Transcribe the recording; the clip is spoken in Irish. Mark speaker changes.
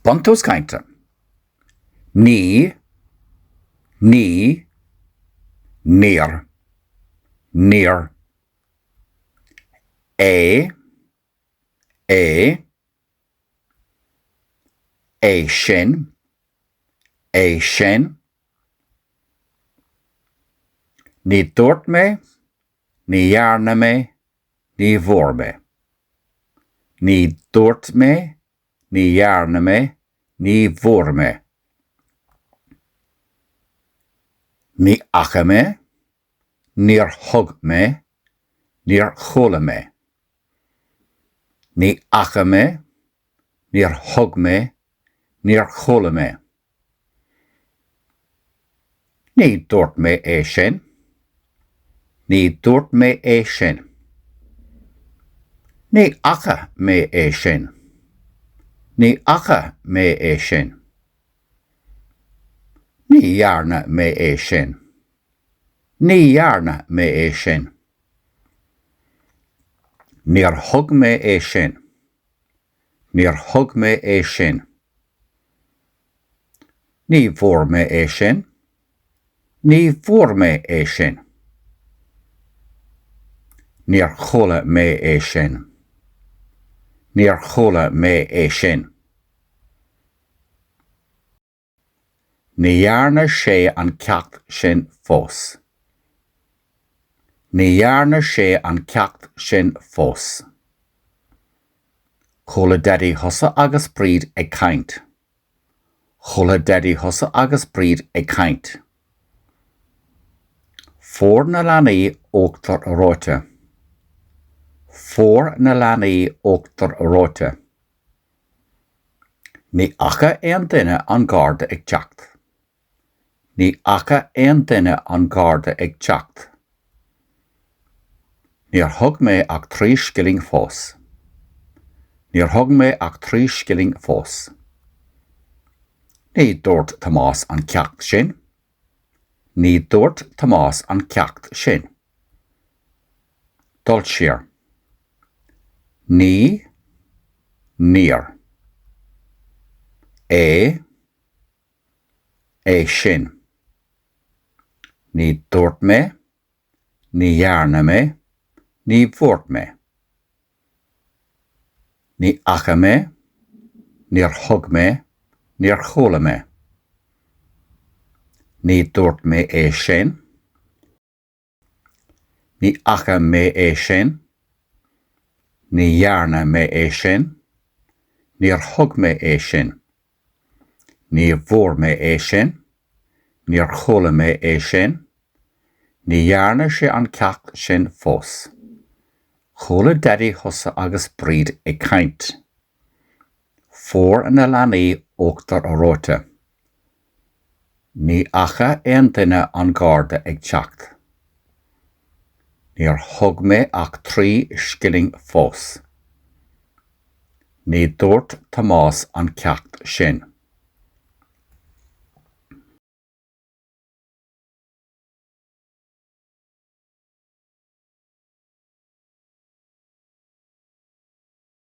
Speaker 1: Buntús Cainte Ní, Ní, Níor, Níor É, É, É sin, É sin Ní dúirt mé, Ní dhearna mé, Ní bhfuair mé. Ní dúirt mé Ní dhearna mé Ní bhfuair mé. Ní fhaca mé Níor thug mé Níor chuala mé. Ní fhaca mé Níor thug mé, níor chuala mé. Ní dúirt mé é sin. Ní dúirt mé é sin. Ní fhaca mé é sin. Ní fhaca mé é sin. Ní dhearna mé é sin. Ní dhearna mé é sin. Níor thug mé é sin. Níor thug mé é sin. Ní bhfuair mé é sin. Ní bhfuair mé é sin. Níor chuala mé é sin. Níor chuala mé é sin. Ní dhearna sé an ceacht sin fós. Ní dhearna sé an ceacht sin fós. Chuala daidí thusa agus Bríd ag caint. Chuala daidí thusa agus Bríd ag caint. Fuair na leanaí uachtar reoite. Fuair na leanaí uachtar reoite. Ní fhaca aon duine an Garda ag teacht. Ní fhaca aon duine an Garda ag teacht. Níor thug mé ach trí scilling fós. Níor thug mé ach trí scilling fós. Ní dúirt Tomás an ceacht sin. Ní dúirt Tomás an ceacht sin. Dul siar. Ní, níor. É, é sin. Ní dúirt mé, ní dhearna mé, ní bhfuair mé. Ní fhaca mé, níor thug mé, níor chuala mé. Ní dúirt mé é sin. Ní fhaca mé é sin. Ní dhearna mé é sin. Níor thug mé é sin. Ní bhfuair mé é sin. Níor chuala mé é sin. Ní dhearna sé an ceacht sin fós. Chuala Daidí thusa agus Bríd ag caint. Fuair na leanaí uachtar reoite. Ní fhaca aon duine an Garda ag teacht. Níor thug mé ach trí scilling fós. Ní dúirt Tomás an ceacht sin.